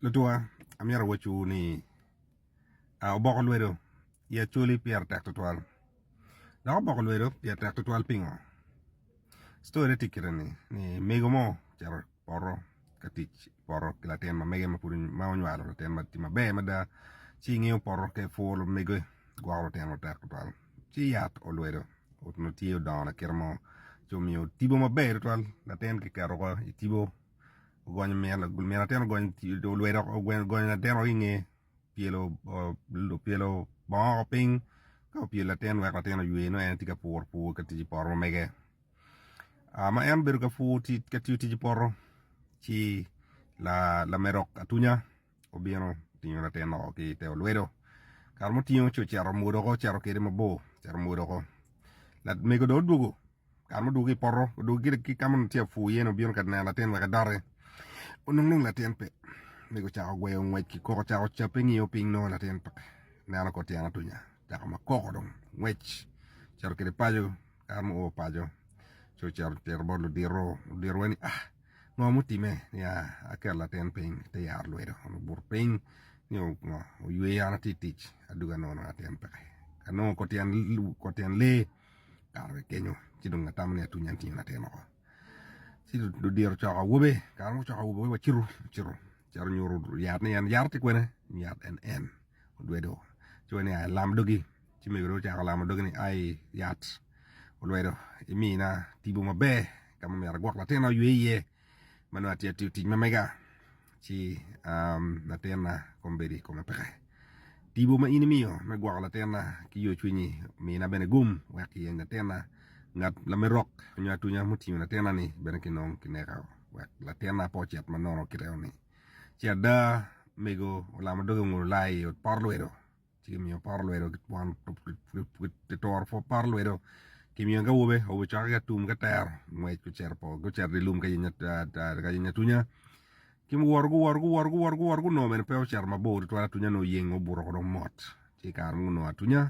Lutunga, amyero awacci wu ni oboko lwedo i Acholi pire tek tutwal. Dok oboko lwedo pire tek tutwal pingo? Story ne tye kite ni, ni mego mo ocito i poto ka tic i poto ki latin ma mege ma onywalo latin ma tye maber mada ci ngiyo poto ka puro mege gwoko lutino tek tutwal ci yat olwedo onongo tye odongo lakite mo ci omiyo tipo maber tutwal latin kiketo woko i tipo ogonyo min atin ogonyo lwete ogonyo latin woko inge pyelo pyelo bongo woko piny ka opyelo latin wek latin oywe nongo en tye ka puro pur ka tic i poto ma mege ma en obedo ka pur ka tiyo tic i poto ci lamerok atunya Obino otingo latin oko ki i te olwedo, kare ma otingo ci ocito omwodo oko ocito kwede mabor ocito omwodo oko. Lamego dong odwogo kare ma odwogo ki i poto odwogo gire ki ka ma onongo tye ka pur iye-ni obino ka neno latin wek edoti onongo dong latin pe mego ocako gweyo ngwec ki koko ocako cabbe ngiyo piny nongo latin pe ineno kor tyen atunya ocako makoko dong ngwec ocito kwede paco kare ma oo paco ci ocito tito bot ludito ludito wai ni ah Ngo mutime niya aketo latin piny te yaro lwedo kun obuto piny nio ngo oyweyo an atye itic adwogi anongo nongo atin peke anongo kor tyen lee okato ki kenyo ci dong atamo ni atwinye an tinge latin woko ci odiro ocoko awobe kare ma ocoko awobe wacito ocito ocito nyuto yat ni en yat-ti kwene nyuto yat NN lwedo ci wacito ni aa ilam dogi. Ci megere ocako lamo doge ni, Ai, yat olwedo, imina tipo maber ka ma myero agwok latinna oywe iye ma nongo atye atiyo tic ma mega. Ci latinna kombeddi kome peke. Tipo ma in imiyo me gwoko latinna ki yocwinyi omina bene gum wek kiyeny latinna. Ngat lamerok nyo atunya mutingo latinna-ni bene kinong kineka wek latinna pe ocit ma nono kit eno-ni. Ci ada, mego olamo doge onguno lai i ot porlwedo. Ci kimiyo poto lwedo kituro poto lwedo kimiyo ki awobe, awobe cokke ki atum ki atero ngwec gucito gucito dye lum ka yenyo ka yenyo atunya ci guwoto guwoto guwoto guwoto guwoto gunongo bene pe ocito mabor tutwal atunya onongo oyengo obuto ko dong mot ci i kare ma gunongo atunya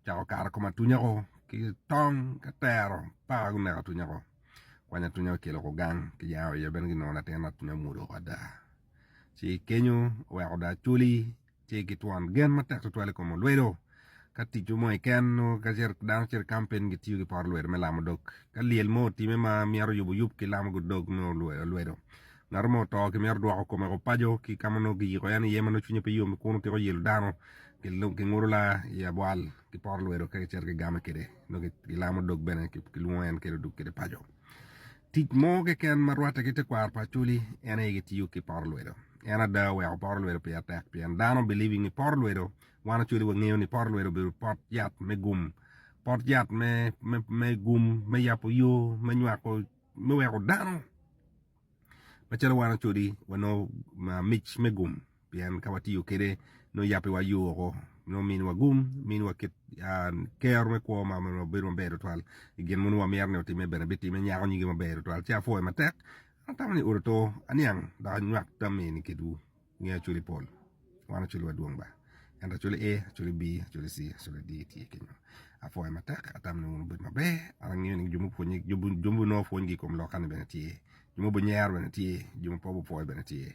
ocako kato i kom atunya ko ki tong ki atero paka guneko atunya ko kwany atunya okelo ko gang ki yao iye bene ginongo latin atunya omwodo woko ada ci kenyo oweko dong acoli Ci gitwono gen matek tutwal i kom olwedo. Ka ticwu mo keken nyo ka ce dano cito i kampin gitiyo ki pot olwedo me lamo dog. Ka lyel mo otime ma myero oyub oyub ki lamo dog me olwedo. Ngat mo oto ki myero odwoko kome woko paco ki ka ma nongo kiyiko en iye ma nongo cwinye pe yom kun otiko yelo dano ki ngudo la i abwal ki pot olwedo ka kicito kigame kwede nongo kilamo dog bene kilwongo en kede odug kwede paco. Tic mo keken ma rwatte ki tekwaro pa Acholi en aye gitiyo ki poro lwedo. En ada oweko poro lwedo pire tek pien dano believing ni poro lwedo, wan Acholi wangeyo ni poro lwedo obedo pot yat me gum, pot yat me, me, me gum, me yabo yo, me nywako, me weko dano macalo wan Acholi wanongo mic me gum. pien ka watiyo kede nongo yabbe wa yoo woko nongo mini wa gum mini wa kit kero me kwo ma bedo maber tutwal i gin mogo wamito ni otimme bene bitime nyako nyige maber tutwal ci apwoyo matek an atamo ni odo to aniang dok anywak tam eni kedwu nge acoli pol wan acoli wa dwong ba ento acoli A acoli B acoli C acoli D tye kenyo apwoyo matek atamo ni wun wubed maber an angeyo ni jo mupwonye jo ma nongo pwonygi i kom loka ni bene tye jo ma obinyero bene tye jo ma pe obipwoyo bene tye